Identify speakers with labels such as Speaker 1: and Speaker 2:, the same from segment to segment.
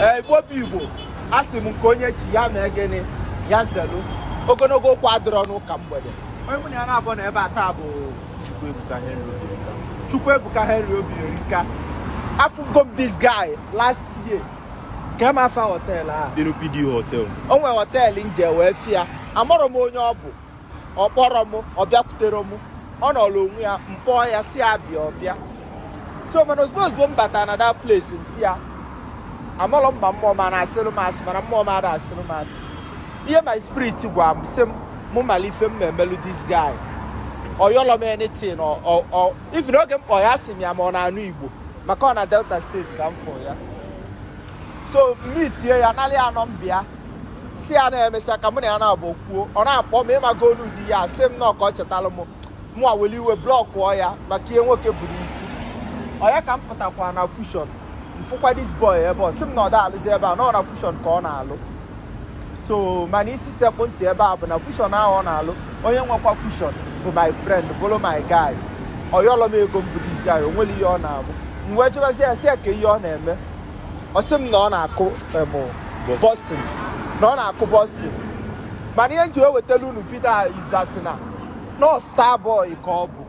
Speaker 1: ee igbo bụ igbo a sị m nke onye chi ya mee gịnị ya zelu ogologo okwu adịrọ n'ụka mgbede onye mụ na ya naabọ nọ ebe a taa bụ Chukwuebuka Henry Obierika afụgo m this guy last year ka m afa họteelụ a Denu PD Hotel
Speaker 2: o nwere họteelụ
Speaker 1: m jee wee fụ ya amarọ m onye ọ bụ ọ kpọrọ m ọ bịakwutere m ọ nọrọ onwe ya m kpọọ ya sị ya bịa ọ bịa so mana ozugbo ozugbo m batara na that place m fụ ya amalọ m ma mmụọ m na-asịrụ m asị mana mmụọ m ada asịrụ m asị ihe my spirit gwa m sị m mụ mara ife m na-emelụ this guy ọ yọlọ m anything even oge m kpọ ya asị m ya ma ọ na-anụ igbo maka ọ na Delta State ka m fụ ya so m meetie ya nalị ya nọmba ya sị ya na e mesịa ka mụ na ya naabọ kwuo ọ na-akpọ m ị mago olu di ya sị m na ọ ka ọ chetalụ m mụ awele iwe blọkụọ ya maka ihe nwoke buru isi ọ ya ka m pụtakwa na Fusion m fụkwa this boy ebe ọ sị m na ọ da alụzi ebe a na ọ na Fusion ka ọ na-alụ so mana isi sekpụ ntị ebe a bụ na Fusion ahụ ọ na-alụ onye nwekwa Fusion bụ my friend bụrụ my guy ọ yọlọ m ego mbụ this guy o nwere ihe ọ na-abụ m wee jụbazi ya sị ya kee ihe ọ na-eme ọ sị m na ọ na-akụ boxing na ọ na-akụ boxing mana ihe m ji wetara unu vidio a is that na ọ star boy ka ọ bụ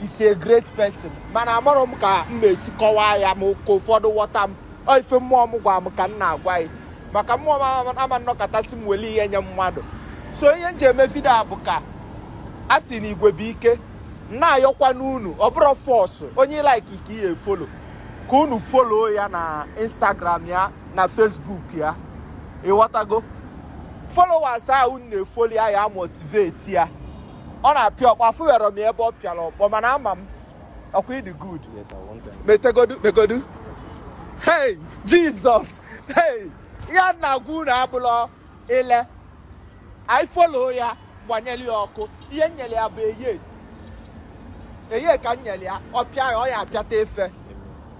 Speaker 1: is a great person mana amarọ m ka m na-esi kọwaa ya ma ka ụfọdụ ghọta m ọ ife mmụọ m gwa m ka m na-agwa ya maka mmụọ m ama anọkata sị m weli ihe nye mmadụ so ihe m ji eme vidio a bụ ka a sị na igwe bụ ike m na-ayọkwanụ unu ọ bụrọ force onye ị like ka ị ya-efolo ka unu folo ya na instagram ya na facebook ya ị ghọtago followers a unu na-efolo ya ya motivate ya ọ na-apịa ọkpọ afụwero m ebe ọ pịara ọkpọ mana ama m ọkwa ị dị good metegodu megodu hey Jesus hey ihe m na-agwa unu abụlọ ile anyị folo ya gbanyere ya ọkụ ihe m nyere ya bụ eye eye ka m nyere ya ọ pịa ya ọ ya-apịata ife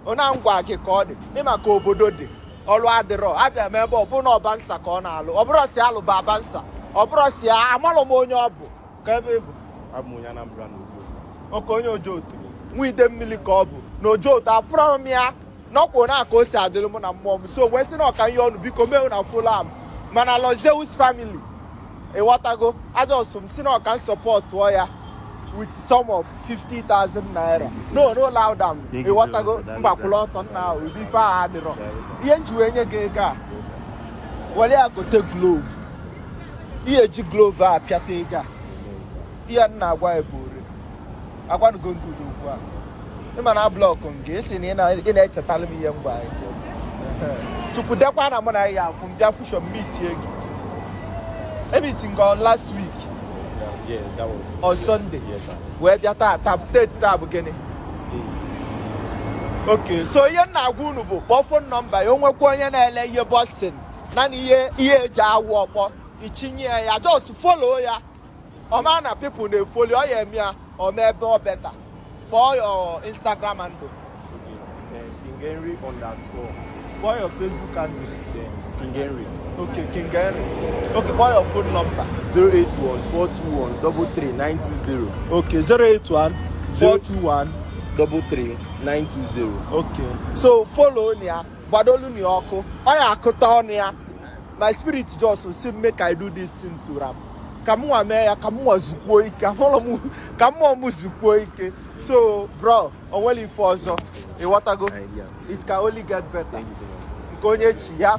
Speaker 1: ọ na m gwa gị ka ọ dị ị ma ka obodo dị ọrụ adịrọ abịa m ebe ọ bụ na ọ bouncer ka ọ na-alụ ọ bụrọ sị a lụba bouncer ọ bụrọ sị amalụ m onye ọ bụ ka ebe bụ abụ onye Anambra na Ojo okay onye Ojoto nwa Idemili ka ọ bụ na Ojoto afụrọ m ya n'ụkwụ na aka o si adịrị mụ na mmụọ m so m wee sị na ọ ka m yọọ unu biko make una follow am mana Lord Zeus family ị ghọtago a just m sị na ọ ka m sọpọtụọ ya with sum of 50,000 naira no no loud am ị ghọtago mgbakwụla ọtọ nna ahụ ụdị ife ahụ adịrọ ihe m ji wee nye gị ego a were ya gote glove ihe eji glove a pịata ego a ihe m na-agwa ya bụ ore agwanugo m gị ụdị okwu a ịma na blọkụ nke esi na ị na- ị na-echetara m ihe mgbe anyị chukwu dekwa na mụ na ya afụ m bịa fushọ m mitie gị emiti nke on last week
Speaker 2: Yeah, that was on Sunday
Speaker 1: Yes, sir. wee
Speaker 2: bịa taa
Speaker 1: taa teti taa bụ gịnị okay so ihe m na-agwa unu bụ kpọọ phone number ya o nwekwa onye na-ele ihe boxing nanị ihe ihe eji awụ ọkpọ ichinye ya just follow ya ọ ma na people na-efoli ọ ya eme ya ọ ma ebe ọ better kpọọ your instagram handle
Speaker 2: King Henry underscore kpọọ
Speaker 1: your facebook handle King
Speaker 2: Henry
Speaker 1: okay King Henry okay kpọọ your phone number 081 421 33920 okay 081 421 33920 okay so follow ya gbadolu na ọkụ ọ ya akụta ọnụ ya my spirit just say make I do this thing for am ka m nwa mee ya ka m nwa zukwuo ike ka mmụọ m zukwuo ike so bro o nwere ife ọzọ ịghọtago it can only get better nke onye chi ya